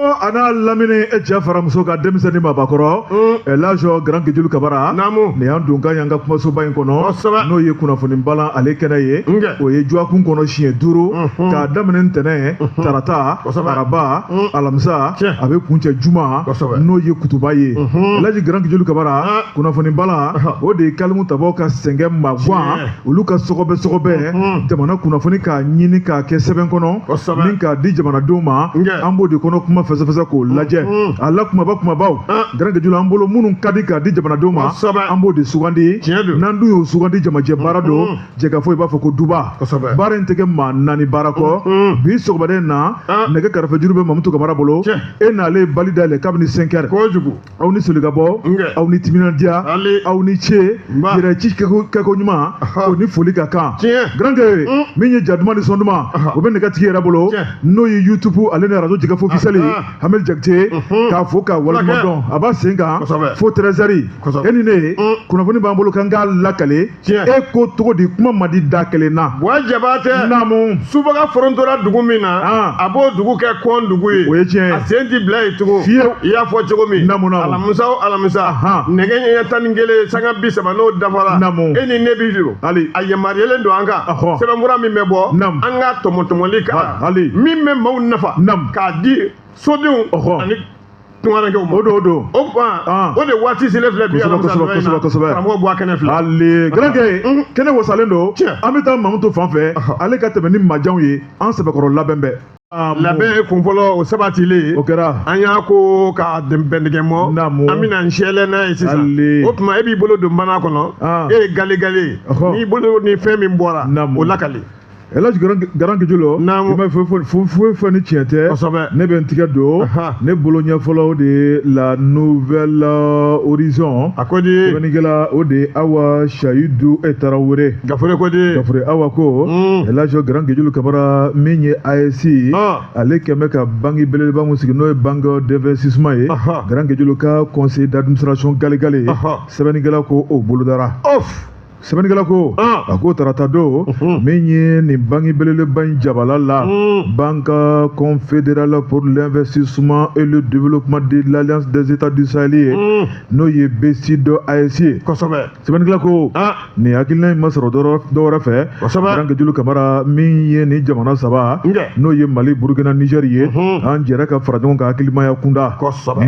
a n'a lamini e cɛ fara muso kan denmisɛnnin mabakɔrɔ ɛlaji garankɛ julu kabara naamu nin y'an donkan y'an ka kumasoba in kɔnɔ kosɛbɛ n'o ye kunnafoni balan ale kɛnɛ ye nkɛ o ye juwakun kɔnɔ siɲɛ duuru k'a daminɛ ntɛnɛn tarata Kosɛbɛ. araba alamisa Tiɲɛ. a bɛ kuncɛ juma Kosɛbɛ. n'o ye kutuba ye laji garankɛ julu kabara Ah. kunnafoni balan o de ye kalimu tabaw ka sɛgɛn maguwan Tiɲɛ. olu ka sɔgɔbɛ sɔgɔbɛ hmm. jamana kunnafoni k'a ɲini k'a kɛ sɛbɛn kɔnɔ ni k'a di jamanadenw ma an b'o de kɔnɔ kuma fɛsɛfɛsɛ k'o hmm. lajɛ hmm. a la kumaba kumabaw garankɛ julu an bolo minnu ka di k'a di jamanadenw ma an b'o de sugandi n'an dun y'o sugandi jamajɛ baara don jɛkafɔ i b'a fɔ ko duba baara in tɛ kɛ maa naani baara kɔ bi sɔgɔmada in na nɛgɛ karafejuru bɛ mamutu kamara bolo e n'ale bali dayɛlɛ kabini cinq heures aw ni solikabɔ aw ni timinandiya aw ni ce yɛrɛ ci kɛko ɲuman o ni foli ka kan garankɛ mm. min ye ja duman ni sɔn duman o bɛ nɛgɛ tigi yɛrɛ bolo n'o ye youtube ale ni arajo jɛkafɔ officiel ah, ah. hamid jakite mm-hmm. k'a fo k'a waleɲuman dɔn a b'a sen kan fo treize heures e ni ne mm. kunnafoni b'an bolo kan k'a lakale tiɲɛ e ko cogo di kuma man di da kelen na wa jabatɛ naamu subaga forontora dugu min na ah. a b'o dugu kɛ kɔn dugu ye o ye tiɲɛ a sen ti bila yen tugun fiyewu i y'a fɔ cogo min naamu naamu alamisa o alamisa nɛgɛ ɲɛ tan ni kelen sanga bi saba n'o dafara naamu e ni ne bi don hali a yamaruyalen don an kan sɛbɛnfura min bɛ bɔ naamu an ka tɔmɔtɔmɔli kan hali min bɛ maaw nafa naamu k'a di sodenw ani tungarankew ma o don o don o kuma o de waati selen filɛ bi alamisa don in na karamɔgɔba kɛnɛ filɛ ale garankɛ kɛnɛ wasalen don an bɛ taa mamutu fan fɛ ale ka tɛmɛ ni majanw ye an sɛbɛkɔrɔ labɛn bɛɛ labɛn kun fɔlɔ o sabatilen o kɛra an y'a ko ka bɛndigɛ mɔ an bɛna n sɛlɛ n'a ye sisan o tuma e b'i bolo don mana kɔnɔ e ye galegale n'i bolo ni fɛn min bɔra o lakali Elhadji Garankɛ Julu naamu i ma foyi fɔ ni tiɲɛ tɛ kosɛbɛ ne bɛ n tigɛ don Ahan. ne bolo ɲɛ fɔlɔ de ye la nouvelle euh, horizon a ko di sɛbɛnnikɛla o de ye awa sayidu e tarawele gafure ko di gafure awa ko Mm. elhadji Garankɛ Julu kabara min ye AES Ah. ale kɛn bɛ ka banki belebeleba min sigi n'o ye banque d'investissement ye Ahan. Garankɛ Julu ka conseil d'administration galegale Ahan. sɛbɛnnikɛla ko o bolodara sɛbɛnnikɛla ko a ko tarata don min ye nin banki belebeleba in jabala la banque confédérale pour l'investissement et le développement de l'alliance des états du sahel ye n'o ye BCID AES ye kosɛbɛ sɛbɛnnikɛla ko nin hakilina in ma sɔrɔ dɔwɛrɛ fɛ garankɛ julu kamara min ye nin jamana saba n'o ye mali burukina niger ye an jɛra ka fara ɲɔgɔn kan hakilimaya kunda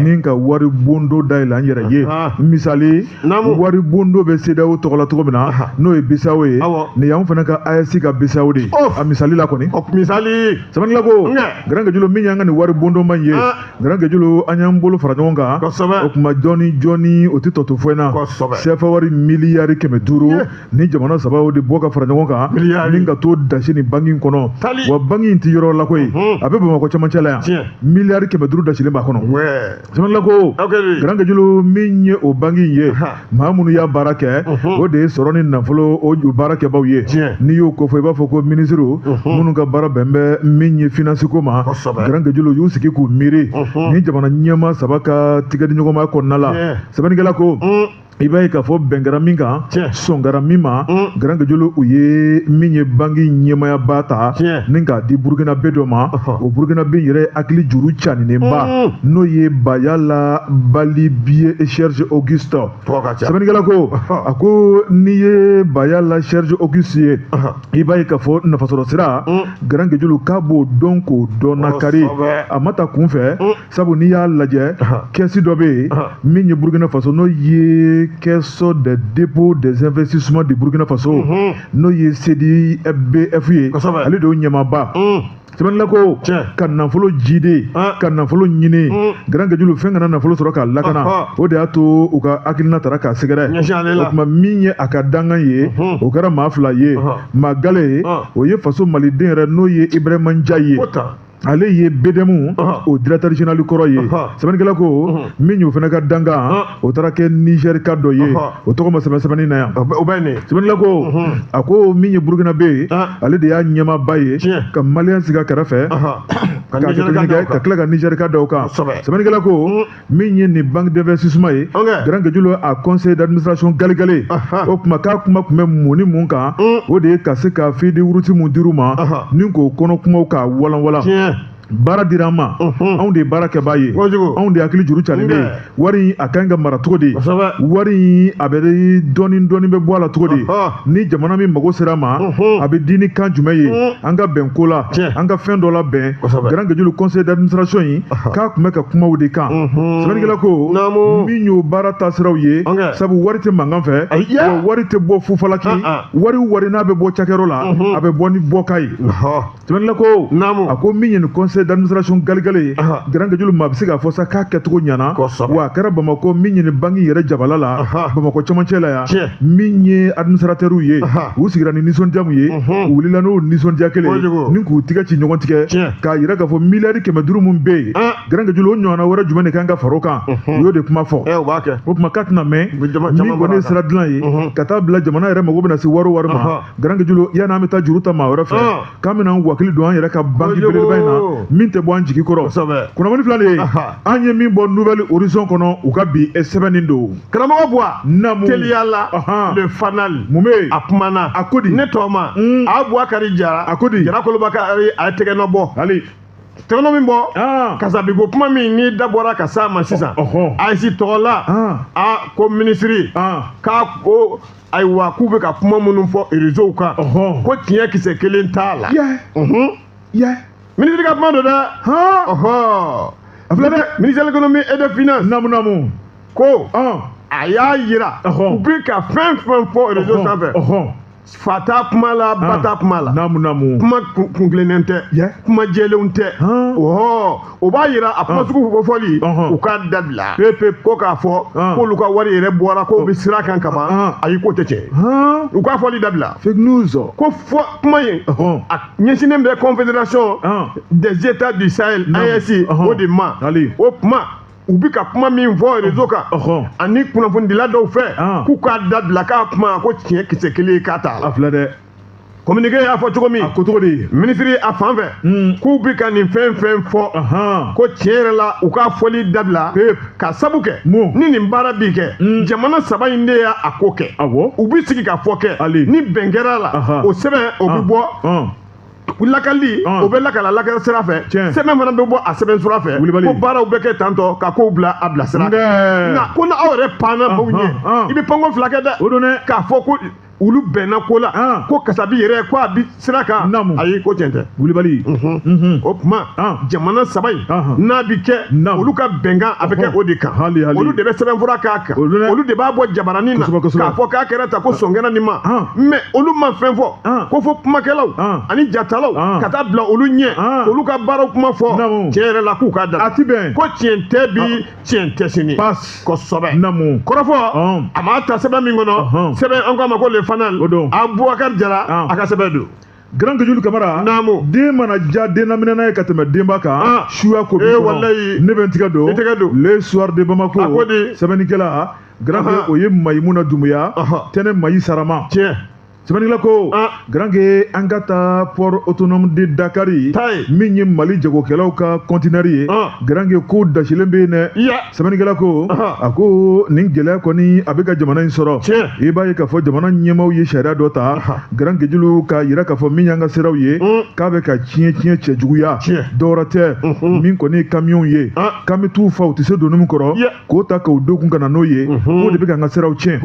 ni ka wari bondo dayɛlɛ an yɛrɛ ye misali wari bondo bɛ CEDEAO tɔgɔ la cogo min na n'o ye BCEAO ye nin y'anw fana ka AES ka BCEAO de ye a misali la kɔni misali sɛbɛnnikɛla ko garankejulu min y'an ka nin wari bondoba in ye garankejulu an y'an bolo fara ɲɔgɔn kan o tuma jɔni jɔni o tɛ tɔ to foyi na CFA wari miliyari kɛmɛ duuru ni jamana saba o de bɔ ka fara ɲɔgɔn kan ni ka to dasi nin banki in kɔnɔ wa banki in tɛ yɔrɔ la koyi a bɛ Bamakɔ cɛmancɛ la yan miliyari kɛmɛ duuru dasilen b'a kɔnɔ Sɛbɛnnikɛla ko garankejulu min ye o banki in ye maa minnu y'a baara kɛ o de ye sɔrɔ ni nafolo o baarakɛbaw ye n'i y'o ko fɔ i b'a fɔ ko minisiriw minnu ka baara bɛn bɛ min ye finansi ko ma garankejulu y'u sigi k'u miiri ni jamana ɲɛmaa saba ka tigɛdiɲɔgɔnma kɔnɔna la sɛbɛnnikɛla ko i b'a ye k'a fɔ bɛn kɛra min kan sɔn kɛra min ma garankejulu u ye min ye banki ɲɛmaayaba ta ni k'a di burukinabe dɔ ma o burukinabe yɛrɛ hakili juru caninenba n'o ye bayala balibiye serge auguste sɛbɛnnikɛla ko a ko n'i ye bayala serge auguste ye i b'a ye k'a fɔ nafasɔrɔ sira garankejulu k'a b'o dɔn k'o dɔn nakari a ma ta kunfɛ sabu n'i y'a lajɛ kɛsi dɔ bɛ yen min ye burukina faso n'o ye caisse de dépôt des investissements du burukina faso mhm. n'o ye CDI-BF ye ale de y'o ɲɛmaaba mm. sɛbɛnnikɛla ko ka nafolo jiidi ka nafolo ɲini mm. garankejulu fɛn ka na nafolo sɔrɔ k'a lakana o de y'a to u ka hakilina taara k'a sɛgɛrɛ o tuma min ye a ka dankan ye mhm. o kɛra maa fila ye maa gale o ye faso maliden yɛrɛ n'o ye ibrahima ndiaye ye ale ye BDM o directeur général kɔrɔ ye sɛbɛnnikɛla ko min y'o fana ka dankan o taara kɛ Nigerka dɔ ye o tɔgɔ ma sɛbɛn sɛbɛnni na yan sɛbɛnnikɛla ko a ko min ye Burkinabè ye ale de y'a ɲɛmaaba ye ka maliyɛn sigi a kɛrɛfɛ ka tila ka Nigerka da o kan sɛbɛnnikɛla ko min ye nin banque d'investissement ye garankejulu a conseil d'administration galegale o kuma k'a kuma tun bɛ mun ni mun kan mm. o de ye ka se ka feuille de route min dir'u ma ni k'o kɔnɔ kumaw k'a walanwalan baara dira an ma anw de ye baara kɛbaa ye anw de hakili juru calen bɛ ye wari a ka ɲi ka mara cogo di wari a bɛ dɔɔni dɔɔni bɛ bɔ a la cogo di ni jamana min mago sera a ma a bɛ di ni kan jumɛn ye an ka bɛn ko la an ka fɛn dɔ la bɛn garankejulu conseil d'administration in k'a tun bɛ ka kuma o de kan sɛbɛnnikɛla ko min y'o baara taasiraw ye sabu wari tɛ mankan fɛ wa wari tɛ bɔ fu falaki ah, ah. wari wari n'a bɛ bɔ cakɛyɔrɔ la a bɛ bɔ ni bɔkan ye sɛbɛnnikɛla ko a ko min ye nin conseil d'administration galegale ye garankejulu maa bɛ se k'a fɔ sa k'a kɛcogo ɲɛna wa a kɛra bamakɔ min ye nin banki yɛrɛ jabala la bamakɔ camancɛ la yan min ye administratɛriw ye u sigira ni nisɔndiya min ye u wulila n'o nisɔndiya kelen ni k'u tigɛ ci ɲɔgɔn tigɛ k'a yira k'a fɔ miliyari kɛmɛ duuru min bɛ yen Grand Gejulo o ɲɔgɔnna wɛrɛ jumɛn de kan ka fara o kan u y'o de kuma fɔ o tuma k'a tɛna mɛn min kɔni ye sira dilan ye ka taa bila jamana yɛrɛ mago bɛna se wari o wari ma Grand Gejulo yanni an bɛ taa juru ta maa wɛrɛ fɛ k'an bɛna an wakili don an yɛrɛ ka banki belebeleba in na min tɛ bɔ an jigi kɔrɔ kunnafoni fila de ye an ye min bɔ nouvel horizon kɔnɔ u ka bi sɛbɛnni don karamɔgɔ Buwa namu teliya la le fanal mun bɛ yen a kumana a ko di ne tɔma mm. Abubakari Jara a ko di jara koloba kari a ye tɛgɛnɔ bɔ hali tɛgɛnɔ min bɔ ah. kasabi ko kuma min n'i da bɔra ka s'a ma sisan AES tɔgɔ la ah. a ko minisiri ah. k'a ko ayiwa k'u bɛ ka kuma minnu fɔ rezow kan ko tiɲɛ kisɛ kelen t'a la minisiri ka kuma don dɛ ministère de l'économie et des finances namu namu ko a y'a yira u bi ka fɛn fɛn fɔ rezo sanfɛ fa t'a kuma la ba t'a kuma la naamu naamu kuma kuntilennen tɛ kuma jɛlenw tɛ ɔhɔ o b'a yira a kuma sugu fɔli u k'a dabila pepe ko k'a fɔ k'olu ka wari yɛrɛ bɔra k'o bɛ sira kan kaban ayi k'o tɛ tiɲɛ u k'a fɔli dabila fake news ko fɔ kuma in a ɲɛsinnen bɛ confédération des états du sahel AES o de ma o kuma u bɛ ka kuma min fɔ rezo kan ani kunnafonidila dɔw fɛ ah. k'u k'a dabila k'a kuma ko tiɲɛ kisɛ kelen k'a t'a la. a filɛ dɛ. communiqué y'a fɔ cogo min. a ko cogo di. minisiri a fan fɛ. Hmm. k'u bɛ ka nin fɛn fɛn fɔ. ko tiɲɛ yɛrɛ la u k'a fɔli dabila. ka sabu kɛ. mun ni nin baara bi kɛ. Hmm. jamana saba in de y'a ko kɛ. awɔ u bɛ sigikafɔ kɛ. hali ni bɛn kɛra a la. o sɛbɛn o bɛ ah. bɔ. Ah. ko lakali o bɛ lakala lakali sira fɛ sɛbɛn fana bɛ bɔ a sɛbɛn sira fɛ ko baaraw bɛ kɛ tantɔ ka kow bila a bila sira nka ko ni aw yɛrɛ panna baw ɲɛ i bɛ panko fila kɛ dɛ o don dɛ k'a fɔ ko olu bɛnna ko la ko kasabi yɛrɛ ko a bi sira kan ayi ko tiɲɛ tɛ wulibali o tuma jamana saba in n'a bi kɛ olu ka bɛnkan a bɛ kɛ o de kan olu de bɛ sɛbɛnfura k'a kan olu de b'a bɔ jabaranin na k'a fɔ k'a kɛra tan ko sɔn kɛra nin ma mais olu ma fɛn fɔ ko fɔ kumakɛlaw ani jatalaw ka taa bila olu ɲɛ olu ka baaraw kuma fɔ tiɲɛ yɛrɛ la k'u ka da a ti bɛn ko tiɲɛ tɛ bi tiɲɛ tɛ sini kosɛbɛ kɔrɔfɔ an b'a ta sɛbɛn min kɔnɔ sɛbɛn an k'a ma ko le fanal abubakari jara a ka sɛbɛn don Grand Gejulo Kamara. Naamu. Den mana diya den laminɛna ye ka tɛmɛ denba kan. Ah. Suya ko b'i kɔnɔ. Ee walayi. Ne bɛ n tɛgɛ don. I tɛgɛ don. Le soir de Bamako. A ko di. Sɛbɛnnikɛla. Grand o ye Mayimuna Dumuya. Tɛnɛ Mayi Sarama. Tiɲɛ. sɛbɛnnikɛla ko garanke an ka taa port autonome de dakari min ye mali jagokɛlaw ka kɔntinɛri ye garanke ko dasilen bɛ yen dɛ sɛbɛnnikɛla ko a ko nin gɛlɛya kɔni a bɛ ka jamana in sɔrɔ i b'a ye k'a fɔ jamana ɲɛmaaw ye sariya dɔ ta garankejulu k'a yira k'a fɔ min y'an ka siraw ye k'a bɛ ka tiɲɛ tiɲɛ cɛjuguya dɔwɛrɛ tɛ min kɔni ye kamiyɔnw ye k'an bɛ t'u fa u tɛ se doni min kɔrɔ k'o ta k'o d'u kun ka na n'o ye k'o de bɛ k'an ka siraw tiɲɛ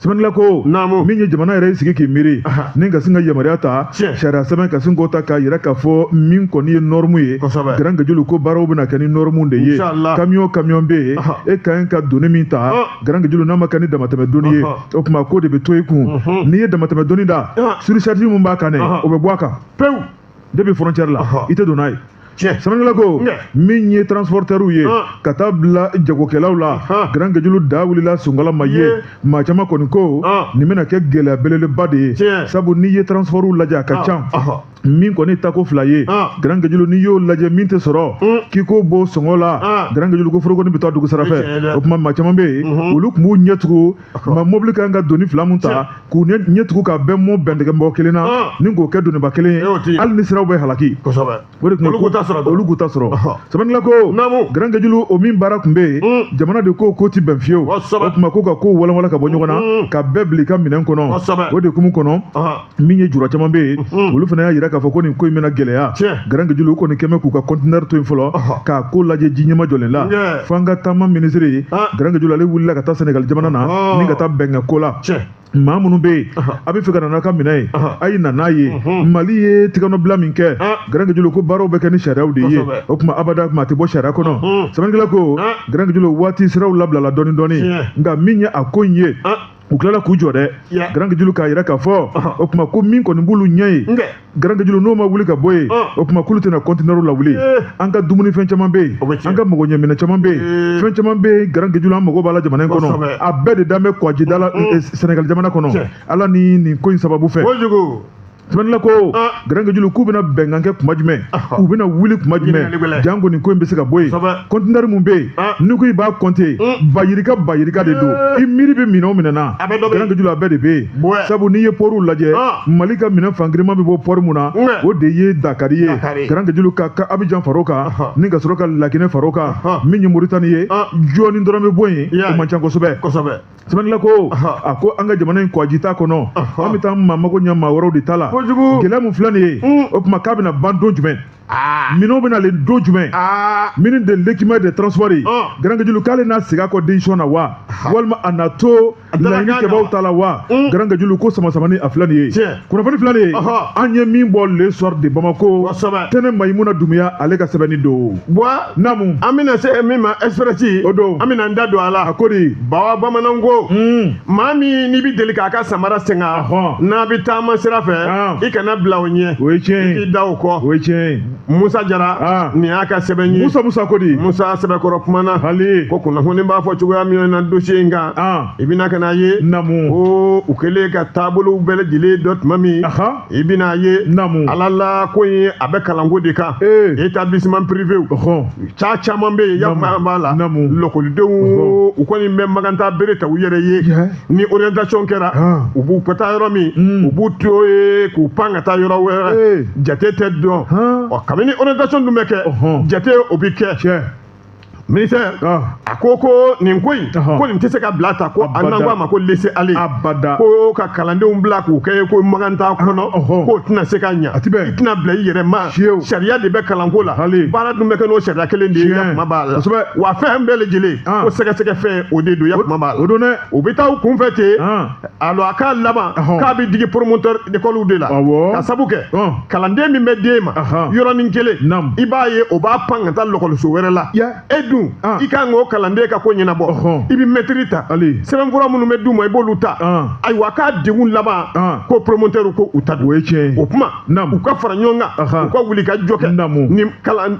sɛbɛnnila ko naamu min ye jamana yɛrɛ y'i sigi k'i miiri ni ka sin ka yamaruya ta sariya sɛbɛn ka sin k'o ta k'a yira k'a fɔ min kɔni ye nɔrɔmu ye garankejulu ko baaraw bɛna kɛ ni nɔrɔmu de ye kamiyɔn kamiyɔn bɛ yen e ka ɲi ka doni min ta garankejulu n'a ma kɛ ni damatɛmɛ doni ye o tuma k'o de bɛ to i kun n'i ye damatɛmɛ doni da surcharge min b'a kan dɛ o bɛ bɔ a kan pewu depuis frontière la i tɛ don n'a ye sɛbɛnnikɛla ko min ye transporteurw ye ka taa bila jagokɛlaw la garankejulu da wulila sɔngɔ la ma ye maa caman kɔni ko nin bɛna kɛ gɛlɛya belebeleba de ye sabu n'i ye transportw lajɛ a ka ca min kɔni tako fila ye garankejulu n'i y'o lajɛ min tɛ sɔrɔ k'i ko bɔ sɔngɔ la garankejulu ko foroko nin bɛ taa dugu sira fɛ o tuma maa caman bɛ yen olu tun b'u ɲɛ tugu ma mobili ka kan ka doni fila min ta k'u ɲɛ tugu ka bɛn mɔ bɛntigɛ mɔgɔ kelen na ah. ni k'o kɛ doniba kelen ye eh, hali ni siraw bɛ halaki o de tun olu k'u ta sɔrɔ sɛbɛnnila ko garankejulu o min baara tun bɛ yen mm. jamana de ko k'o ti bɛn fiyewu o tuma ko ka kow walawala ka bɔ ɲɔgɔn na mm. ka bɛɛ bil'i ka minɛn kɔnɔ o de hukumu kɔnɔ min ye jura caman bɛ yen mhm. olu fana y'a jira k'a fɔ ko nin ko in bɛna gɛlɛya garankejulu u kɔni kɛmɛ k'u ka kɔntinɛri to yen fɔlɔ k'a ko lajɛ ji ɲɛmajɔlen la fo an ka taama minisiri ye ah. garankejulu ale wulila ka taa sɛnɛgali jamana na ah. ni ka taa bɛn kɛ ko la maa minnu bɛ yen a b'a fɛ ka na n'a ka minɛn ye a ye na n'a ye mhm. mali ye tigɛnɔbila min kɛ ah. garankejulu ko baaraw bɛ kɛ ni sariyaw de ye o tuma abada kama a tɛ bɔ sariya kɔnɔ mhm. sɛbɛnnikɛla ko garankejulu waati siraw labilala dɔɔnin dɔɔnin nka min ye a ko in ye u tilala k'u jɔ dɛ garankejulu k'a yira k'a fɔ o tuma ko min kɔni b'olu ɲɛ ye garankejulu n'o ma wuli ka bɔ yen o tuma k'olu tɛna kɔntinɛriw lawuli an ka dumunifɛn caman bɛ yen an ka magoɲɛminɛn caman bɛ yen fɛn caman bɛ yen garankejulu an mago b'a la jamana in kɔnɔ a bɛɛ de dan bɛ kɔgɔjida la sɛnɛgali jamana kɔnɔ ala ni nin ko in sababu fɛ sɛbɛnnila ko garankejulu k'u bɛna bɛnkan kɛ kuma jumɛn u bɛna wuli kuma jumɛn janko nin ko in bɛ se ka bɔ yen kɔntinɛri minnu bɛ yen n'i ko i b'a kɔnte ba yirika ba yirika de don i miiri bɛ minɛn o minɛn na garankejulu a bɛɛ de bɛ yen sabu n'i ye pɔriw lajɛ mali ka minɛn fangirinma bɛ bɔ pɔri min na o de ye dakari ye garankejulu ka ka abijan far'o kan ni ka sɔrɔ ka laginɛ far'o kan min ye moritani ye jɔɔni dɔrɔn bɛ bɔ yen o man ca kosɛbɛ sɛbɛnnila ko a ko an ka jamana in kɔji t'a kɔnɔ an bɛ taa an mago ɲɛ maa wɛrɛw de ta la gɛlɛya min filɛ nin ye mm. o tuma k'a bɛna ban don jumɛn ah. minɛnw bɛna le don jumɛn ah. ministre de l'équipement de transport ye ah. garankajulu k'ale n'a segin a kɔ décision na wa walima a na to laɲini kɛbaaw ta la wa mm. garankajulu ko samasamani a filɛ nin ye kunnafoni filɛ nin ye an ye min bɔ le soir de bamako tɛnɛ mayimuna dumuya ale ka sɛbɛnni don buwa namu an bɛna se min ma express o don an bɛna n da don a la a ko de bawa bamananw ko hmm. maa min n'i bɛ deli k'a ka samara singa n'a bɛ taama sira fɛ i kana bila o ɲɛ o ye tiɲɛ ye i k'i da o kɔ o ye tiɲɛ ye musa jara ah. nin y'a ka sɛbɛn ye musa musa ko di musa sɛbɛkɔrɔ kumana hali ko kunnafoni b'a fɔ cogoya min na dossier in kan ah. i bɛna ka n'a ye namu ko u kɛlen ka taabolow bɛɛ lajɛlen dɔn tuma min i bɛna ye namu ala la ko in ye a bɛ kalanko de kan établissement privé ca caman bɛ yen yafa b'a la lakɔlidenw u kɔni bɛ maganta bere ta u yɛrɛ ye ni orientation kɛra u b'u ka taa yɔrɔ min hmm. u b'u to ye k'u pan ka taa yɔrɔ wɛrɛ jate tɛ dɔn ɔ kabini orientation dun bɛ kɛ jate o bɛ kɛ ministère a ko ko nin ko in ko nin tɛ se ka bila tan ko an n'an ko a ma ko laisser aller ko ka kalandenw bila k'u kɛ ko makan t'a kɔnɔ k'o tɛna se ka ɲa i tɛna bila i yɛrɛ ma sariya de bɛ kalanko la baara dun bɛ kɛ n'o sariya kelen de ye kuma b'a la wa fɛn bɛɛ lajɛlen ko sɛgɛsɛgɛ fɛn o de don ya kuma b'a la o don dɛ u bɛ taa u kunfɛ ten alors a k'a laban k'a bɛ digi promoteur d'école de la ka sabu kɛ kalanden min bɛ d'e ma yɔrɔnin kelen i b'a ye o b'a pan ka taa lɔkɔliso wɛrɛ la e dun i ka kan k'o kalanden ka ko ɲɛnabɔ i bɛ mɛtiri ta sɛbɛnfura minnu bɛ d'u ma i b'olu ta ayiwa k'a degun laban ko promoteur ko u ta don o ye tiɲɛ ye o tuma u ka fara ɲɔgɔn kan u ka wuli ka jɔ kɛ nin kalan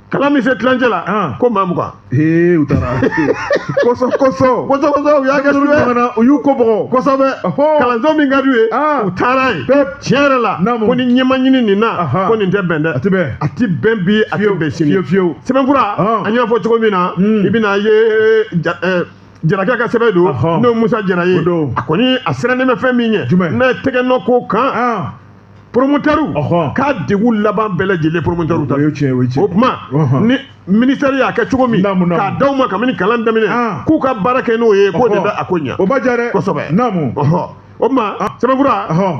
kalan min se tilancɛ la Ɔn. ko maa mugan Ee u taara. Kɔsɔ kɔsɔ. kosɛbɛ kosɛbɛ u y'a kɛ Denmisɛnninw suɲɛ banana, u y'u ko bɔgɔ. kosɛbɛ Ɔhɔ. kalanso min ka d'u ye Aa. u taara yen Pep. tiɲɛ yɛrɛ la Naamu. ko ni ɲɛ ma ɲini nin na Aha. ko nin tɛ bɛn dɛ A tɛ bɛn. a tɛ bɛn bi a tɛ Fiyewu, bɛn sini fiyewu, fiyewu. sɛbɛnfura Ɔn. an y'a fɔ cogo min na Mm. i bɛna ye ja- ɛ, jarakɛ ka sɛbɛn don Ɔhɔ. n'o ye musa jara ye O don. a kɔni a sirannen bɛ fɛn min ɲɛ Jumɛn? n'a ye tɛgɛ nɔ k'o kan Aa. poromotɛriw k'a degun laban bɛɛ lajɛlen poromotɛriw ta o tuma ni ministère y'a kɛ cogo min k'a d'aw ma kabini kalan daminɛ ah. k'u ka baara kɛ n'o ye k'o de bɛ a ko ɲɛ o b'a diya dɛ kosɛbɛ o tuma ah. sɛbɛnfura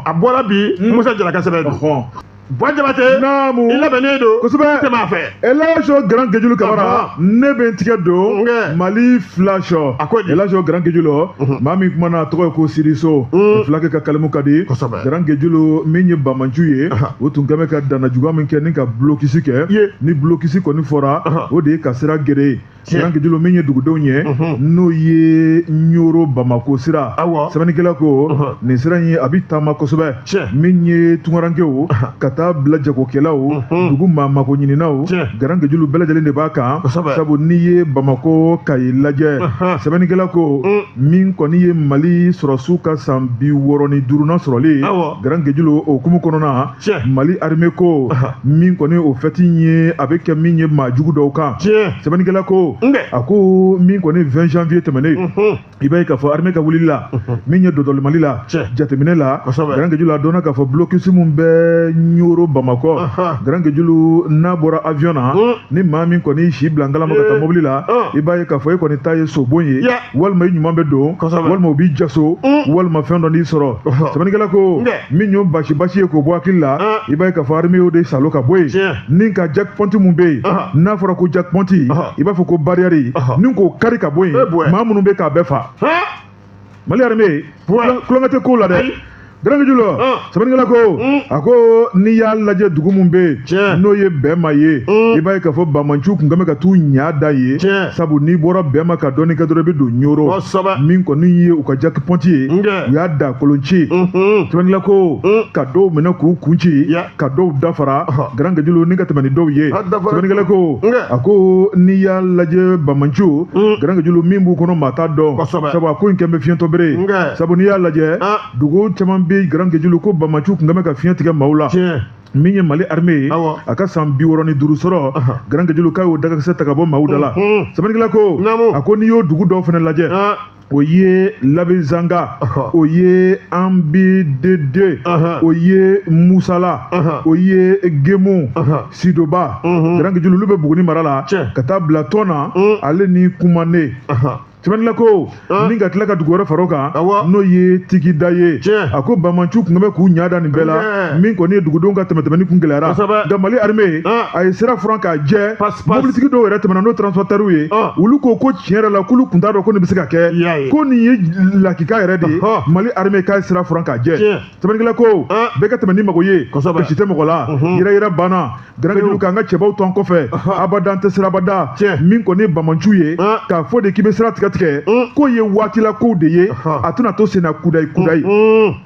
a bɔra bi hmm. musa jara ka sɛbɛn don buwa jabatɛ naamu i labɛnnen don kosɛbɛ tɛmɛ a fɛ elaji garankajulu kamara ne bɛ n tigɛ don mali filasɔ a ko filasɔ garankejulu maa min kuma na tɔgɔ ye ko siriso filakɛ ka kalimu ka di garankejulu min ye bamanciw ye o tun kɛn bɛ ka dannajuguya min kɛ ni ka bulokisi kɛ ni bulokisi kɔni fɔra o de ye ka sira geren garankejulu min ye dugudenw ye n'o ye ɲoro bamako sira sɛbɛnnikɛla ko nin sira in a bɛ taama kosɛbɛ min ye tunkarankew ka taa bila jagokɛlaw dugu maa mako ɲininaw garankejulu bɛɛ lajɛlen de b'a kan sabu n'i ye bamakɔ kayi lajɛ sɛbɛnnikɛla ko min kɔni ye mali sɔrɔsiw ka san bi wɔɔrɔ ni duurunan sɔrɔli garankejulu o hukumu kɔnɔnana mali armée ko min kɔni o fɛti ye a bɛ kɛ min ye maa jugu dɔw kan sɛbɛnnikɛla ko a ko min kɔni vingt janvier tɛmɛnen i b'a ye k'a fɔ armée ka wulili la min ye dɔdɔli mali la jateminɛ la grand kejulu a dɔnna k'a fɔ blokisi min bɛ ɲoro bamakɔ grand kejulu n'a bɔra avion na hmm. ni maa min kɔni si bila ngalama ka taa mobili la hmm. i b'a ye k'a fɔ e kɔni ta ye sobon ye walima i ɲuman bɛ don walima u b'i jaso hmm. walima fɛn dɔ n'i sɔrɔ sɛbɛnnikɛla ko min y'o basi basi ye k'o bɔ hakili la i b'a ye k'a fɔ armée y'o de saalo ka bɔ yen ni ka checkpoint mun bɛ yen n'a fɔra ko checkpoint i b'a fɔ ko barrière ni k'o kari ka bɔ yen maa minnu bɛ k'a bɛɛ fa mali armée tulonkɛ tɛ ko la dɛ garankejulu sɛbɛnnikɛla ko a ko n'i y'a lajɛ dugu min bɛ yen n'o ye bɛma ye i b'a ye k'a fɔ bamanciw tun kɛn bɛ ka t'u ɲa da yen sabu n'i bɔra bɛma ka dɔɔni kɛ dɔrɔn i bɛ don ɲoro min kɔni ye u ka checkpoint ye u y'a da kolonci sɛbɛnnikɛla ko ka dɔw minɛ k'u kun ci ka dɔw da fara garankejulu ni ka tɛmɛ ni dɔw ye sɛbɛnnikɛla ko a ko n'i y'a lajɛ bamanciw mm. garankejulu min b'u kɔnɔ maa t'a dɔn sabu a ko in kɛn bɛ fiyentɔ bere sabu n'i y'a lajɛ ah. dugu caman bɛ garankejulu ko bamanciw kun kɛn bɛ ka fiɲɛ tigɛ maaw la min ye mali armée ye a ka san bi wɔɔrɔ ni duuru sɔrɔ garankejulu k'a y'o dagakisɛ ta ka bɔ maaw da la sɛbɛnnikɛla ko a ko n'i y'o dugu dɔw fana lajɛ ah. o ye labezanga o ye anbidedi o ye musala o ye gemu sidoba garankejulu olu bɛ buguni mara la ka taa bila tɔna mm. ale ni kumane sɛbɛnnikɛla ko ah. ni ka tila ka dugu wɛrɛ far'o kan n'o ye tigida ye a ko bamanciw tun kɛn bɛ k'u ɲa da nin bɛɛ la min kɔni ye dugudenw ka tɛmɛtɛmɛni kun gɛlɛyara nka mali armée ah. a ye sira furan k'a jɛ mobilitigi dɔw yɛrɛ tɛmɛna n'o transportɛriw ye olu ko ko tiɲɛ yɛrɛ la k'olu kun t'a dɔn ko nin bɛ se ka kɛ ko nin ye lakika yɛrɛ de ye mali armée k'a ye sira furan k'a jɛ sɛbɛnnikɛla ko bɛɛ ka tɛmɛ n'i mago ye kasi tɛ mɔgɔ la yɛrɛyɛrɛ banna garankejulu k'an ka cɛbaw to an kɔfɛ abada an tɛ siran abada min kɔni ye bamanciw ye k'a fɔ de k'i bɛ sira tigɛ tigɛ k'o ye waatila kow de ye a tɛna to senna kudayi kudayi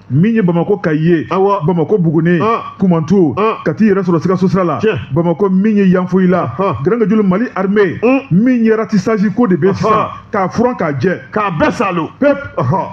min ye bamakɔ kayi ye awa bamakɔ buguni ah. kumantu ah. ka t'i yɛrɛ sɔrɔ sikaso sira la bamakɔ min ye yanfoyila ah. garankejulu mali armée hmm. min ye ratissage ko de bɛ sisan k'a furan k'a jɛ k'a bɛɛ saalo pep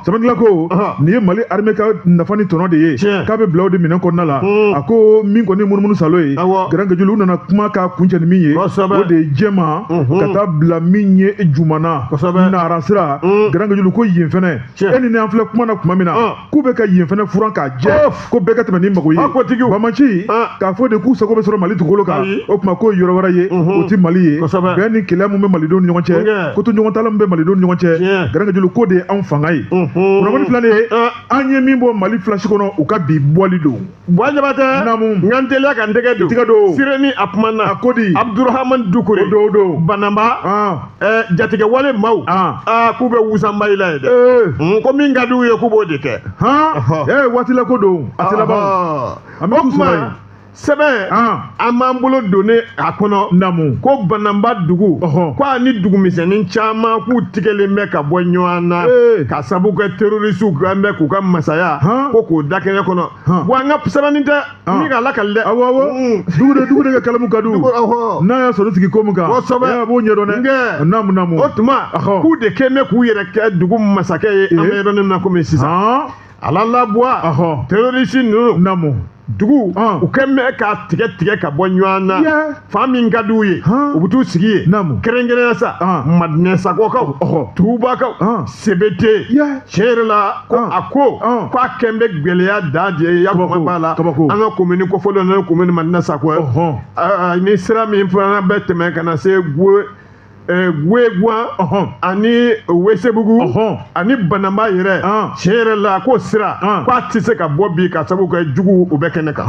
sɛbɛnnila ko nin ye mali armée ka nafa ni tɔnɔ de ye k'a bɛ bila o de minɛn kɔnɔna la hmm. a ko min kɔni munumunu saalo ye garankejulu u nana kuma k'a kuncɛ ni min ye o de ye jɛma ka taa bila min ye jumana nara sira hmm. garankejulu ko yen fɛnɛ e ni an filɛ kuma na tuma min na k'u bɛ ka yen fɛnɛ furan k'a jɛ ko bɛɛ ka tɛmɛ n'i mago ye banbaanci k'a fɔ de k'u sago bɛ sɔrɔ mali dugukolo kan o tuma k'o yɔrɔ wɛrɛ ye o tɛ mali ye bɛn ni kelenya min bɛ malidenw ni ɲɔgɔn cɛ kotoɲɔgɔntala min bɛ malidenw ni ɲɔgɔn cɛ garankejulu k'o de ye anw fanga ye kunnafoni filanan ye an ye min bɔ mali flash kɔnɔ u ka bi bɔli don Buwa Jabatɛ. Namu. N ka n teliya ka n tɛgɛ don. Tɛgɛ don. Sireni a kumana. A ko di. Abudurahamani Dukure. O don o don. Bananba. Ɔn. Ɛɛ jatigɛwale maaw. Ɔn. Aa k'u bɛ wusanba i la yen dɛ. Ee. Hun, ko min ka d'u ye k'u b'o de kɛ. Han. Ɔhɔ. Ee waati la ko don. A tɛ laban o. Ɔhɔ. An bɛ O t'u sɔrɔ tuma yen. sɛbɛn. Ɔn. an b'an bolo donnen a kɔnɔ namu ko bananba dugu ɔhɔn ko a ni dugumisɛnnin caman k'u tigɛlen bɛ ka bɔ ɲɔgɔn na ee ka sabu kɛ terorisiw kan bɛ k'u ka masaya hɔn ko k'o da kɛnɛ kɔnɔ hɔn wa an ka sɛbɛnni cɛ nin ka lakali dɛ awɔ awɔ dukure dukure ka kalamu ka di u ɔhɔn n'a y'a sɔrɔ sigi ko min kan kosɛbɛ a b'o ɲɛdɔn dɛ nkɛ namu namu o tuma ɔhɔn k'u de kɛlen bɛ k'u yɛrɛ kɛ dugu masakɛ ye an bɛ yɔrɔ min na komi sisan ala la buwa terorisi ninnu namu dugu u kɛ mɛ k'a tigɛ tigɛ ka bɔ ɲɔgɔn na fan min ka di u ye u bɛ t'u sigi yen kɛrɛnkɛrɛnya sa madinɛsakɔkaw tubakaw sebete tiɲɛ yɛrɛ la ko a ko ko a kɛn bɛ gɛlɛya dan de ye ya kuma b'a la an ka komini kofɔlen n'o ye komini madinɛsakɔ ye ni sira min fana bɛ tɛmɛ ka na se guwe gueguan ani wesebugu ani bananba yɛrɛ tiɲɛ yɛrɛ la k'o sira k'a tɛ se ka bɔ bi ka sabu kɛ juguw bɛ kɛnɛ kan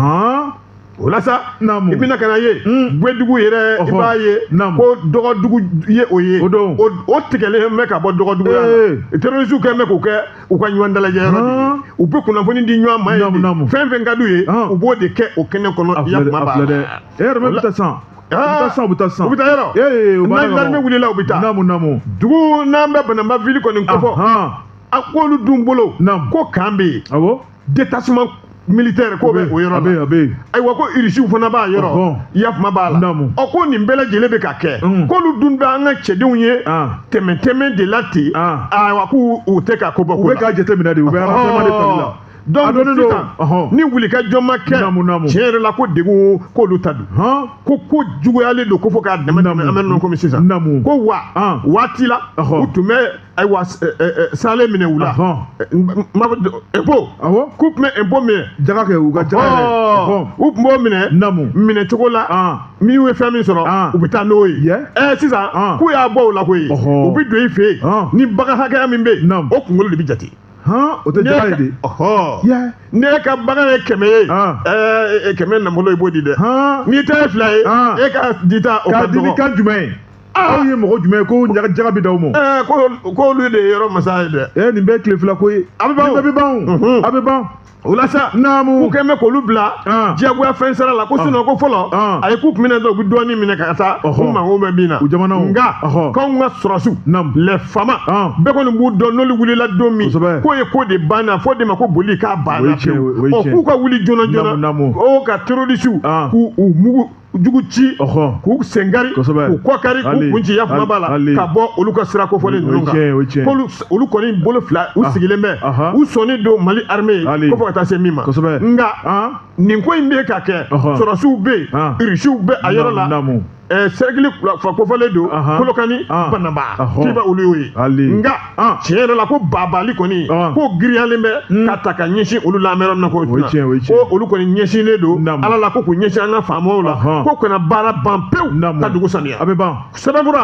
o la sa i bɛna ka na ye guedugu hmm. yɛrɛ i b'a ye ko dɔgɔdugu ye o ye o tigɛlen bɛ ka bɔ dɔgɔdugu la terrorisiw kɛlen bɛ k'o kɛ u ka ɲɔgɔn dalajɛ yɔrɔ de ye u bɛ kunnafoni di ɲɔgɔn ma yen fɛn fɛn ka d'u ye u b'o de kɛ o kɛnɛ kɔnɔ ya kuma b'a la e yɛrɛ bɛ taa san u bɛ taa san u bɛ taa san u bɛ taa yɔrɔ ee u b'a dɔn n'an wulila u bɛ taa namu namu dugu n'an bɛ bananba vili kɔni kofɔ a k'olu dun bolo ko kan bɛ yen awɔ détachement militaire k'o bɛ o yɔrɔ la ayiwa ko irisiw fana b'a yɔrɔ yafuma b'a la ɔ ko nin bɛɛ lajɛlen bɛ ka kɛ k'olu dun bɛ an ka cɛdenw ye tɛmɛntɛmɛn de la ten ayiwa k'u u tɛ ka ko bɔ ko la u bɛ k'a jateminɛ de u bɛ aranseman de tali la. donc sisan ni wulikajɔ ma kɛ tiɲɛ yɛrɛ la ko degun k'olu ta don ko ko juguyalen don ko fo ka damatɛmɛ an bɛ nɔ komi sisan ko wa waati la u tun bɛ ayiwa sale minɛ u la impôt k'u tun bɛ impôt minɛ jaga kɛ u ka jaga kɛ u tun b'o minɛ minɛ cogo la min ye fɛn min sɔrɔ u bɛ taa n'o ye ɛ sisan k'u y'a bɔ o la koyi u bɛ don i fɛ yen ni bagan hakɛya min bɛ yen o kunkolo de bɛ jate. o tɛ jaga ye dɛ ni e ka bagan ye kɛmɛ ye ɛɛ kɛmɛ nafolo i b'o di dɛ n'i ta ye fila ye e ka dita o ka dɔgɔ k'a di nin kan jumɛn ye aw ye mɔgɔ jumɛn ye ko jaga bɛ d'aw ma. ɛɛ ko k'olu de ye yɔrɔ masa ye dɛ. ɛɛ nin bɛɛ ye tile fila ko ye. a bɛ ban a bɛ ban a bɛ ban. o la sa naamu k'u kɔni bɛ k'olu bila Ɔn. diyagoya fɛn sara la ko sinɔn ko fɔlɔ Ɔn. a ye k'u tun bɛ na dɔrɔn u bɛ dɔɔnin minɛ ka taa Ɔhɔ. u mago bɛ min na U jamanaw. nka Ɔhɔ. k'anw ka sɔrɔsiw Naamu. les FAMa Ɔn. bɛɛ kɔni b'u dɔn n'olu wulila don min Kosɛbɛ. k'o ye ko de banna fɔ de ma ko boli k'a O banna ye tiɲɛ, o ye ɔ tiɲɛ. k'u ka wuli joona joona Naamu, naamu. o ka terorisiw Ɔn. k'u mugu jugu ci k'u sen kari k'u kɔ kari k'u kun ci a ɲumanba la ka bɔ olu ka sira kofɔlen ninnu kan k'olu olu kɔni bolo fila u ah. sigilen bɛ ah. u sɔnnen don mali armée ye ko fɔ ka taa se min ma nka ah. nin ko in bɛ ka kɛ sɔrɔsiw bɛ yen irisiw bɛ a yɔrɔ la sɛrɛkili fila kofɔlen don kolokani banamba k'i b'a olu y'o ye nka tiɲɛ yɛrɛ la ko bagabagali kɔni ko giriyalen bɛ hmm. ka ta ka ɲɛsin olu la an bɛ yɔrɔ min na ko ko olu kɔni ɲɛsinnen don ala la ko k'u ɲɛsin an ka faamaw la ko ka na baara ban pewu ka dugu saniya a bɛ ban sɛbɛnfura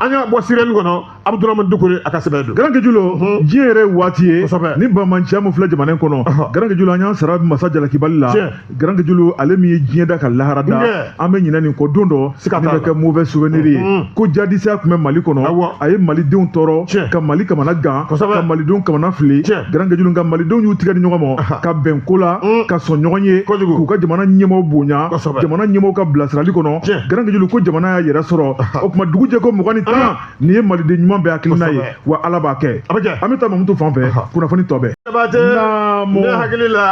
an y'a bɔ sirɛni kɔnɔ abudurahman dukure a ka sɛbɛn don garanke julo hmm. diɲɛ yɛrɛ waati ye nin banbanciya min filɛ jamana in kɔnɔ garanke julo an y'an sara masa jalakibali la Garanke Julo ale min ye diɲɛ da ka lahara da an bɛ ɲinɛ nin kɔ don dɔ nin bɛ kɛ mauvais souvenir ye mm-hmm. ko jadisiya tun bɛ Mali kɔnɔ a ye malidenw tɔɔrɔ ka Mali kamana gan ka malidenw kamana fili Garanke Julo nka malidenw y'u tigɛ di ɲɔgɔn ma ka bɛn ko la mm. ka sɔn ɲɔgɔn ye k'u ka jamana ɲɛmɔgɔw bonya jamana ɲɛmɔgɔw ka bilasirali kɔnɔ Garanke Julo ko jamana y'a yɛrɛ sɔrɔ o tuma dugujɛ ko mugan ni tan nin ye maliden ɲuman bɛɛ hakilina ye wa ala b'a kɛ an bɛ taa mamutu fan fɛ kunnafoni tɔ bɛɛ ne hakili la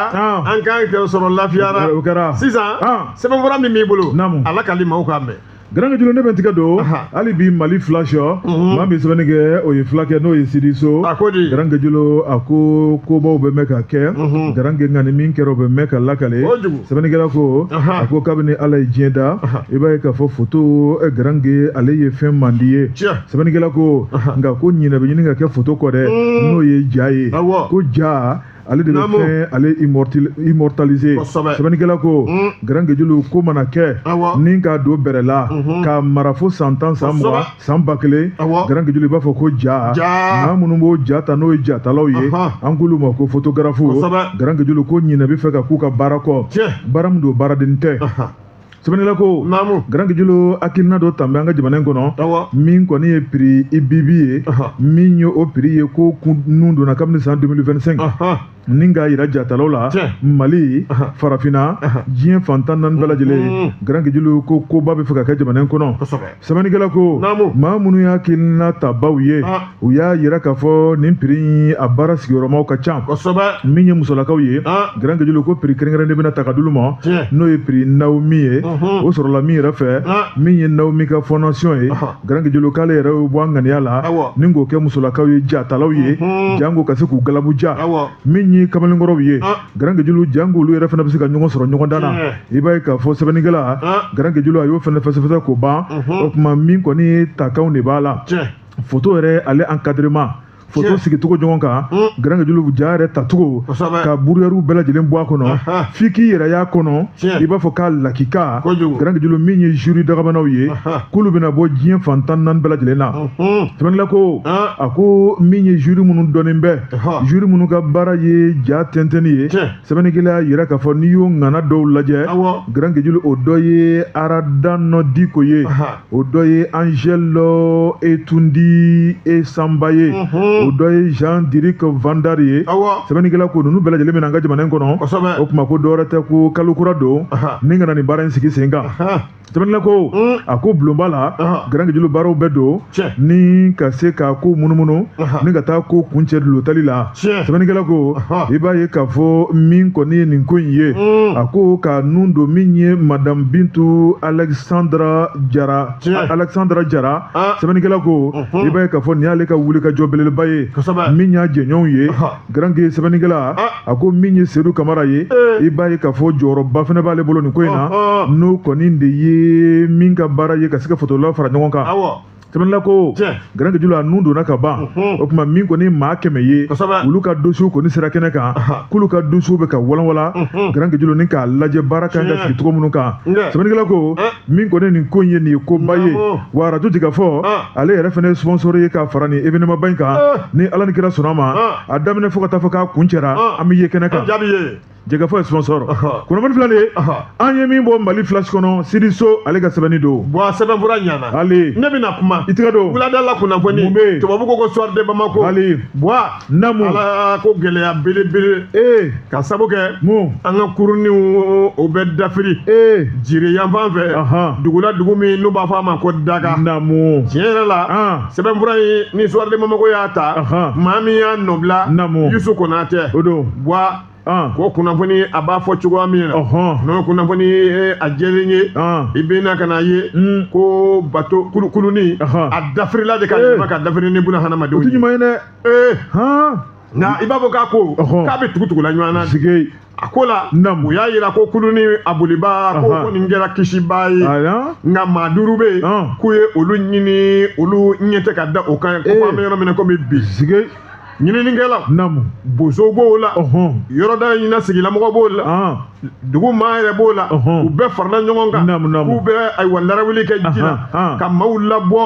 an kan kɛ sɔrɔ lafiyara o kɛra sisan sɛbɛnfura min b'i bolo a lakale maaw k'a mɛn garanke julo ne bɛ tigɛ don hali bi mali flash mhm. maa min sɛbɛnni kɛ o ye fulakɛ n'o ye sidi so garanke julo a ko kobaw bɛ mɛn ka kɛ mhm. garanke nka ni min kɛra o bɛ mɛn ka lakale sɛbɛnnikɛla ko a ko kabini ala ye diɲɛ da i b'a ye k'a fɔ foto eh, garanke ale ye fɛn mandi ye sɛbɛnnikɛla ko nka ko ɲinɛ bɛ ɲini ka kɛ foto kɔ dɛ mm. n'o ye ja ye ko ja ale de bɛ fɛn ale immortaliser sɛbɛnnikɛla ko mm. garanke julo ko mana kɛ ni k'a don bɔrɛ la mm-hmm. k'a mara fo san tan san mugan san ba kelen garankejulu i b'a fɔ ko ja maa minnu b'o ja ta n'o ye jatalaw ye an k'olu ma ko fotografu garankejulu ko ɲinɛ bɛ fɛ ka k'u ka baara kɔ baara min don baaraden tɛ sɛbɛnnila ko garankejulu hakilina dɔ tan bɛ an ka jamana in kɔnɔ min kɔni ye piri i bibi ye min ye o piri ye ko k'o nun donna kabini san 2025 ni k'a yira jatalaw la mali farafinna diɲɛ fan tan naani bɛɛ lajɛlen mm. garankejulu ko koba bɛ fɛ ka kɛ jamana in kɔnɔ sɛbɛnnikɛla ko maa minnu y'a hakilina tabaw ye ah. u y'a yira k'a fɔ nin piri a baara sigiyɔrɔmaw ka ca min ye musolakaw ye ah. garankejulu ko piri kɛrɛnkɛrɛnnen bɛna ta ka d'olu ma n'o ye piri naomi ye o sɔrɔla min yɛrɛ fɛ ah. min ye naomi ka fɔndasiyɔn ye garankejulu k'ale yɛrɛ bɛ bɔ a ŋaniya la ni k'o kɛ musolakaw ye jatalaw ye janko ka se k'u galabu ja min ye kamalenkɔrɔw ye garankejulu janko olu yɛrɛ fana bɛ se ka ɲɔgɔn sɔrɔ ɲɔgɔndan na i b'a ye k'a fɔ sɛbɛnnikɛla garankejulu a y'o fana fɛsɛfɛsɛ k'o ban o tuma min kɔni takanw de b'a la foto yɛrɛ ale encadrement foto sigi cogo ɲɔgɔn kan hmm. garankejulu ja yɛrɛ tacogo ka buruyariw bɛɛ lajɛlen bɔ a kɔnɔ f'i k'i yɛrɛ y'a kɔnɔ i b'a fɔ k'a lakika garankejulu min ye zuri dagabanaw ye k'olu bɛna bɔ diɲɛ fan tan naani bɛɛ lajɛlen na sɛbɛnnila ko a ko min ye zuri minnu dɔnnen bɛ zuri minnu ka baara ye ja tɛntɛnni ye sɛbɛnnikɛla y'a yira k'a fɔ n'i y'o ŋana dɔw lajɛ garankejulu o dɔ ye harandane diko ye o dɔ ye angèle etundi esanba ye o dɔ ye jean dirik vandar ye sɛbɛnnikɛla ko ninnu bɛɛ lajɛlen bɛ na an ka jamana in kɔnɔ o tuma ko dɔwɛrɛ tɛ ko kalo kura don ni ka na nin baara in sigi sen kan sɛbɛnnikɛla ko mm. a ko bulonba la garankejulu baaraw bɛɛ don ni ka se ka ko munumunu ni ka taa ko kuncɛ dulotali la sɛbɛnnikɛla ko i b'a ye k'a fɔ min kɔni ye nin ko in ye mm. a ko k'a nun don min ye madamu bintu alexandra jara alexandra jara ah. sɛbɛnnikɛla ko mm-hmm. i b'a ye k'a fɔ nin y'ale ka wulikajɔ belebeleba ye min y'a jɛɲɔgɔnw ye garanke sɛbɛnnikɛla ah. a ko min ye sedu kamara ye eh. i b'a ye k'a fɔ jɔyɔrɔba fana b'ale bolo nin ko in na n'o kɔni de ye min ka baara ye ka se ka fotolaw fara ɲɔgɔn kan sɛbɛnnila ko garankejulu a nun donna ka ban o tuma min kɔni maa kɛmɛ ye olu ka dosiyew kɔni sera kɛnɛ kan k'olu ka dosiyew bɛ ka walanwala garankejulu ni k'a lajɛ baara kan ka sigi cogo minnu kan sɛbɛnnikɛla ko min kɔni nin ko in ye nin ye koba ye wa arajo jɛkafɔ ale yɛrɛ fana ye sponsor ye ka fara nin événement ba in kan ni ala ni kira sɔnna a ma a daminɛ fo ka taa fɔ k'a kuncɛra an bɛ ye kɛnɛ kan jɛkafɔ ye sponsor kunnafoni fila de ye an ye min bɔ mali flash kɔnɔ sidi so ale ka sɛbɛnni don bɔn a sɛbɛn fura ɲana ale ne bɛna kuma i tɛgɛ don wuladala kunnafoni mun bɛ tubabu ko ko soir de bamako ale bɔn namu ala ko gɛlɛya belebele ee ka sabu kɛ mun an ka kuruniw o bɛ dafiri ee jire yanfan fɛ dugula dugu min n'u b'a fɔ a ma ko daga namu tiɲɛ yɛrɛ la sɛbɛn fura in ni soir de bamako y'a ta maa min y'a nɔbila namu yusu konatɛ o don bɔn ko kunnafoni a b'a fɔ cogoya min na n'o kunnafoni ye a jɛlen ye i bɛ na ka n'a ye hmm. ko bato kulu kuluni a dafirila de ka eh. yɛlɛma ka dafiri ni buna hadamadenw ye o tɛ ɲuman ye dɛ eh. nka i b'a fɔ k'a ko k'a bɛ tugutugula ɲɔgɔn na sigi a ko la u y'a yira ko kuluni a bolibaa k'o kɔni kɛra kisibaa ye nka maa duuru bɛ yen k'u ye olu ɲini olu ɲɛ tɛ ka da o kan ko an bɛ yɔrɔ min na komi bi ɲininikɛla namu bozo b'o la yɔrɔda in na sigilamɔgɔ b'o la dugu maa yɛrɛ b'o la u bɛɛ farala ɲɔgɔn kan k'u bɛ ayiwa larawuli kɛ ji la ka maaw labɔ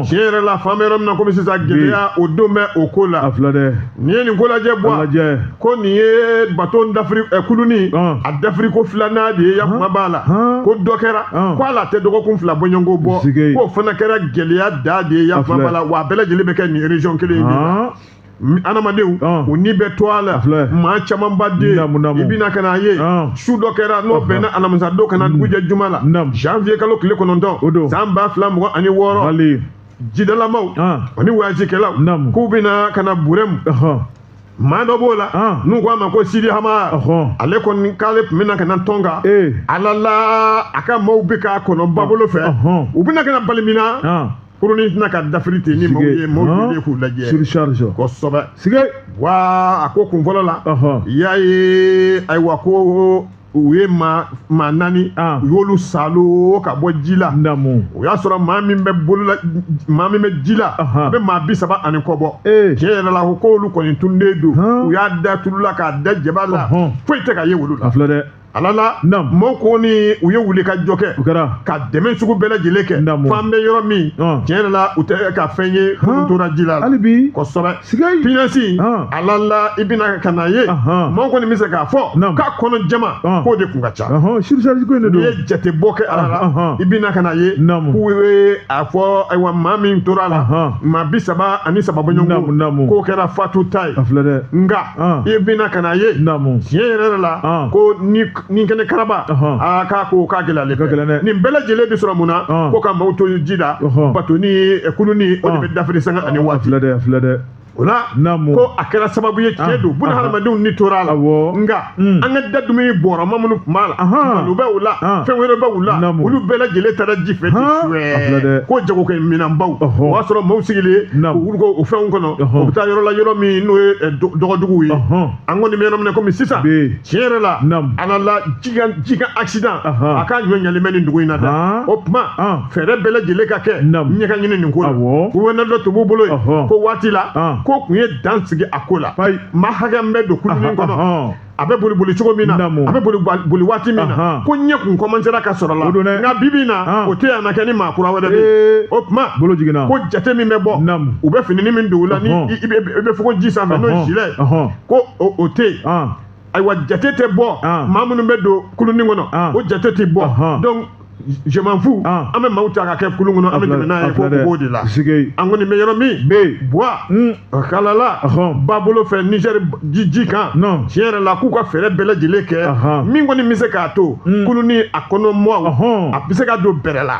tiɲɛ yɛrɛ la f'an bɛ yɔrɔ min na komi sisan gɛlɛya o dɔ bɛ o ko la n'i ye nin ko lajɛ bɔn ko nin ye bato dafiri kuluni dafiri ko filanan de ye ya kuma b'a la ko dɔ kɛra ko hali a tɛ dɔgɔkun fila bɔɲɔgɔnko bɔ k'o fana kɛra gɛlɛya da de ye ya kuma b'a la wa a bɛɛ lajɛlen bɛ kɛ nin region kelen in de la adamadenw u ni bɛ to a la maa camanba dɛ i bɛna ka n'a ye su dɔ kɛra n'o bɛnna alamisa don ka na dugu jɛ juma la janvier kalo tile kɔnɔntɔn san ba fila mugan ani wɔɔrɔ jidalamaaw ani wayajikɛlaw k'u bɛna ka na burɛmu maa dɔ b'o la ah. n'u ko a ma ko sidi hama ale kɔni k'ale tun bɛna ka na tɔnka eh. ala la a ka maaw bɛ k'a kɔnɔ babolo fɛ u bɛna ka na bali min na ah. kurunin tɛna ka dafiri ten ni maaw ye maaw ye k'u lajɛ kosɛbɛ wa a ko kun fɔlɔ la i y'a ye ayiwa ko u ye maa maa naani ah. u y'olu salo ka bɔ ji la o y'a sɔrɔ maa min bɛ bolola maa min bɛ ji la a bɛ maa bi saba ani kɔ bɔ eh. tiɲɛ yɛrɛ la ko k'olu kɔni tununnen don u y'a da tulu la k'a da jaba la foyi tɛ ka ye olu la ala la maaw kɔni u ye wulikajɔ kɛ ka dɛmɛ sugu bɛɛ lajɛlen kɛ f'an bɛ yɔrɔ min tiɲɛ yɛrɛ la u tɛ ka fɛn ye o tora ji la kosɛbɛ pinasi alala i bɛna ka n'a ye maa kɔni bɛ se k'a fɔ k'a kɔnɔ jama k'o de kun ka ca surcharge ko in de don n'i ye jatebɔ kɛ ala la i bɛna ka n'a ye k'u ye a fɔ ayiwa maa min tora a la maa bi saba ani saba bɔɲɔgɔn k'o kɛra fatuta ye nka i bɛna ka n'a ye tiɲɛ yɛrɛ la ko ni nin kɛnɛ karaba aa k'a ko k'a gɛlɛ ale gɛlɛn dɛ nin bɛɛ lajɛlen bɛ sɔrɔ mun na ko ka maaw to ji la bato ni eh, kulunin o de bɛ dafiri sanga ani waati filɛ dɛ filɛ dɛ o la ko a kɛra sababu ye tiɲɛ don buna hadamadenw ni tora a la nka hmm. an ka da dumuni bɔrɔma minnu tun b'a la malo bɛ u la fɛn wɛrɛ bɛ u la olu bɛɛ lajɛlen taara ji fɛ ten suwɛɛ ko jagokɛminɛnbaw o y'a sɔrɔ maaw sigilen u wuluko o fɛnw kɔnɔ u bɛ taa yɔrɔ la yɔrɔ min n'o ye eh, dɔgɔduguw ye an kɔni bɛ yɔrɔ min na komi sisan tiɲɛ yɛrɛ la ala la jikan accident a ka ɲɔɲɛlen bɛ nin dugu in na dɛ o tuma fɛɛrɛ bɛɛ lajɛlen ka kɛɲɛ ka ɲini nin ko la gouverneur dɔ tun b'u bolo yen ko waati la k'o kun ye dan sigi a ko la maa hakɛ min bɛ don kulunin kɔnɔ a bɛ boli boli cogo min na a bɛ boli waati min na ko ɲɛ kun kɔmansera ka sɔrɔ a la nka bi bi na o tɛ yan na kɛ ni maa kura wɛrɛ de o tuma bolo jiginna ko jate min bɛ bɔ u bɛ fini min don u la ni i bɛ fogo ji sanfɛ n'o ye gilet ko o tɛ yen ayiwa jate tɛ bɔ maa minnu bɛ don kulunin kɔnɔ o jate tɛ bɔ donc je m'en fous an bɛ maaw ta ka kɛ kulun kɔnɔ an bɛ tɛmɛ n'a ye k'o b'o de la an kɔni bɛ yɔrɔ min bɛ yen buwa kalala ba bolo fɛ nizɛri ji kan tiɲɛ yɛrɛ la k'u ka fɛɛrɛ bɛɛ lajɛlen kɛ min kɔni bɛ se k'a to kulunni a kɔnɔ maaw a bɛ se ka don bɛrɛ la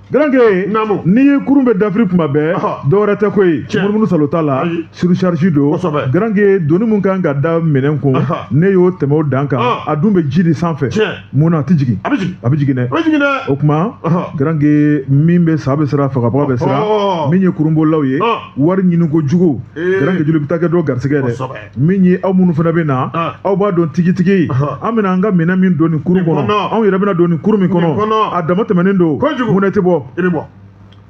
garankɛ naamu n'i ye kurun bɛ dafiri kuma bɛɛ dɔwɛrɛ tɛ ko ye munumunu salo t'a la surcharge don garankɛ doni min kan ka da minɛn kun n'i y'o tɛmɛ o dan kan a dun bɛ ji de sanfɛ mun na a tɛ jigin a bɛ jigin dɛ o tuma garankɛ min bɛ sa bɛ siran fagabaga bɛ siran min ye kurunbolilaw ye wari ɲini kojugu garankɛ joli bɛ taa kɛ dɔ garisigɛ dɛ min ye aw minnu fana bɛ na ah. aw b'a dɔn tigitigi an bɛna an ka minɛn min don nin kurun kɔnɔ anw yɛrɛ bɛna don nin kurun min kɔnɔ a dama tɛmɛnen don mun na i tɛ bɔ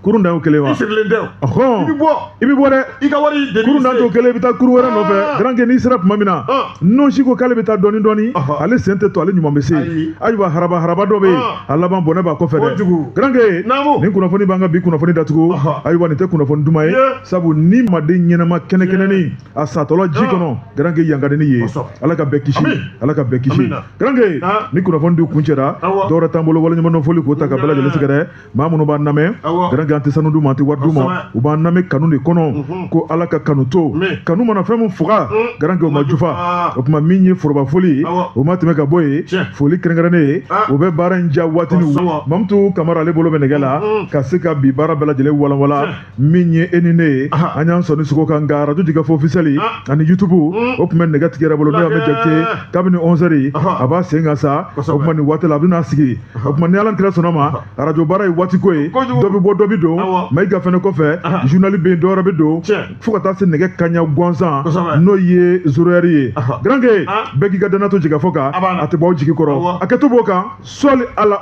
kurun dan y'o kelen wa i sirilen tɛ o i bɛ bɔ i bɛ bɔ dɛ i ka wari deli kurun dan t'o kelen i bɛ taa kurun wɛrɛ nɔfɛ ah. garankɛ n'i sera tuma min na ah. nɔnsi ko k'ale bɛ taa dɔɔni dɔɔni ale sen tɛ to ale ɲuman bɛ se ayiwa haraba haraba dɔ bɛ yen ah. a laban bɔnɛ b'a kɔfɛ dɛ garankɛ nin kunnafoni b'an ka bi kunnafoni datugu ayiwa nin tɛ kunnafoni duman ye sabu ni maaden ɲɛnama kɛnɛkɛnɛni a satɔla ji kɔnɔ garanke yankadeni ye ala ka bɛɛ kisi ala ka bɛɛ kisi garanke nin kunnafoni de kuncɛra dɔwɛrɛ t'an bolo waleɲumandɔn foli k'o taa ka bɛɛ lajɛlen sɛgɛrɛ maa minnu b'an lamɛn garanke an tɛ sanu d'u ma an tɛ wari d'u ma u b'an lamɛn kanu de kɔnɔ ko ala ka kanu to kanu mana fɛn min faga garanke o ma jufa o tuma min ye foroba foli ye o ma tɛmɛ ka bɔ yen foli kɛrɛnkɛrɛnnen ye o bɛ baara in ja waati ni mamutu kamara ale bolo bɛ nɛgɛ la ka se ka bi baara bɛɛ lajɛlen walanwalan min ye e ni ne ye an y'an sɔnni sogo kan nka arajo jɛkafɔ ofisɛli ani yutubu o tun bɛ nɛgɛ tigi yɛrɛ bolo n'o y'a mɛ jakite kabini ɔnsɛri a b'a sen kan sa o tuma nin waati la a bɛna sigi o tuma ni ala kira sɔnna ma arajo baara ye waati ko ye dɔ bɛ bɔ dɔ bɛ don mayiga fɛnɛ kɔfɛ journal bɛ yen dɔwɛrɛ bɛ don fo ka taa se nɛgɛ kaɲa gansan n'o ye zoroyɛri ye garanke bɛɛ k'i ka dannaya to jɛkafɔ kan a tɛ bɔ aw jigi kɔrɔ a kɛ to b'o kan sɔli ala